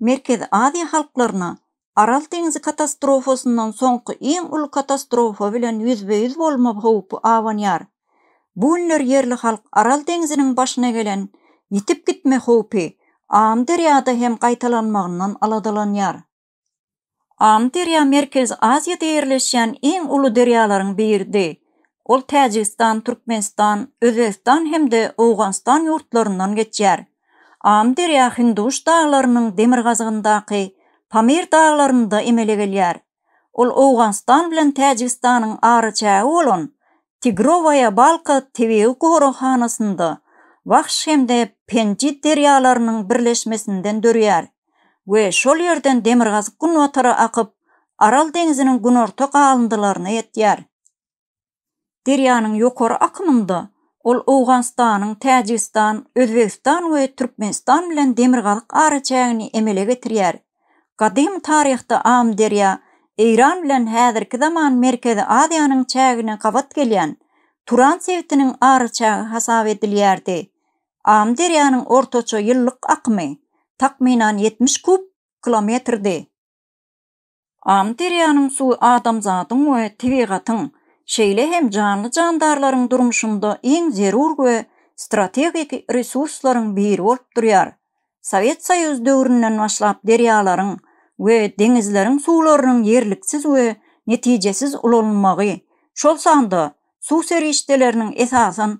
Merkezi Aziýa halklaryna Aral deňzi katastrofasyndan soňky iň uly katastrofa bilen ýüzbe-ýüz bolma howpy abanýar. Bu günler ýerli halk Aral deňziniň başyna gelen ýitip gitme howpy Amyderýada hem gaýtalanmagyndan aladalanýar. Amyderýa Merkezi Aziýada ýerleşýän iň uly derýalaryň biridi. Ol Täjigistan, Türkmenistan, Özbegistan hem-de Owganystan ýurtlaryndan geçýär. Amyderýa Hindiguş daglarynyň demirgazygyndaky Pamir daglarynda emele gelýär. Ol Owganystan bilen Täjigistanyň araçägi bolan Tigrowaýa Balka tebigy goraghanasynda Wahş hem-de Penji derýalarynyň birleşmesinden dörýär we şol ýerden demirgazyk-günbatara akyp, Aral deňziniň günorta galyndylaryna ýetýär. Derýanyň ýokary akymynda ol Owganystanyň, Täjigistan, Özbegistan we Türkmenistan bilen demirgazyk araçägini emele getirýär. Gadym taryhda Amyderýa Eýran bilen häzirki zaman Merkezi Aziýanyň çägine gabat gelýän Turan sebitiniň araçägi hasap edilýärdi. Amyderýanyň ortaça ýyllyk akymy, takmynan, ýetmiş kub kilometrdi. Amyderýanyň suwy adamzadyň we tebigatyň, şeýle hem janly-jandarlaryň durmuşynda iň zerur we strategik resurslaryň biri bolup durýar. Sowet Soýuzy döwründen başlap derýalaryň we deňizleriň suwlarynyň ýerliksiz we netijesiz ulanylmagy, şol sanda suw serişdeleriniň esasan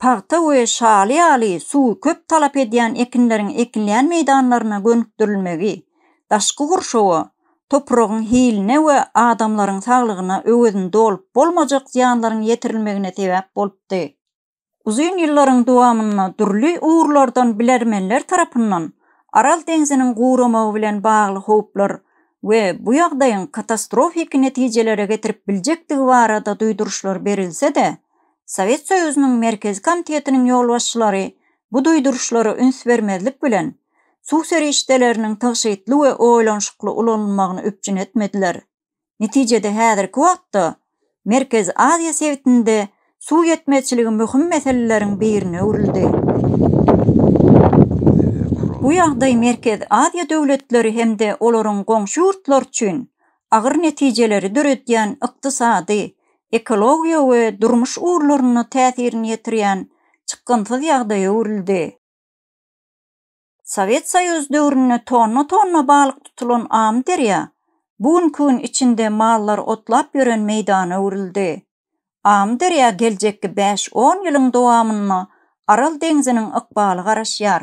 pagta we şaly ýaly suwy köp talap edýän ekinleriň ekilýän meýdanlaryna gönükdirilmegi daşky gurşawa, topragyň hiline we adamlaryň saglygyna öwezini dolup bolmajak zyýanlaryň ýetirilmegine sebäp bolupdy. Uzyn ýyllaryň dowamynda dürli ugurlardan bilermenler tarapyndan Aral deňziniň guramagy bilen bagly howplar we bu ýagdaýyň katastrofiki netijelere getirip biljekdigi barada duýduryşlar berilse-de, Sowet Soýuzynyň Merkezi Komitetiniň ýolbaşçylary bu duýduryşlara üns bermezlik bilen, suw serişdeleriniň tygşytly we oýlanyşykly ulanylmagyny üpjün etmediler. Netijede häzirki wagtda Merkezi Aziýa sebitinde suw ýetmezçiligi möhüm meseleleriň birine öwrüldi. Bu ýagdaý Merkezi Aziýa döwletleri hem-de olaryň goňşy ýurtlary üçin agyr netijeleri döredýän ykdysady, ekologiýa we durmuş ugurlaryna täsirini ýetirýän çykgynsyz ýagdaýa öwrüldi. Sowet Soýuzy döwründe tonna-tonna balyk tutulan Amyderýa bu günki gün içinde mallar otlap ýören meýdana öwrüldi. Amyderýa geljekki bäş-on ýylyň dowamynda Aral deňziniň ykbaly garaşýar.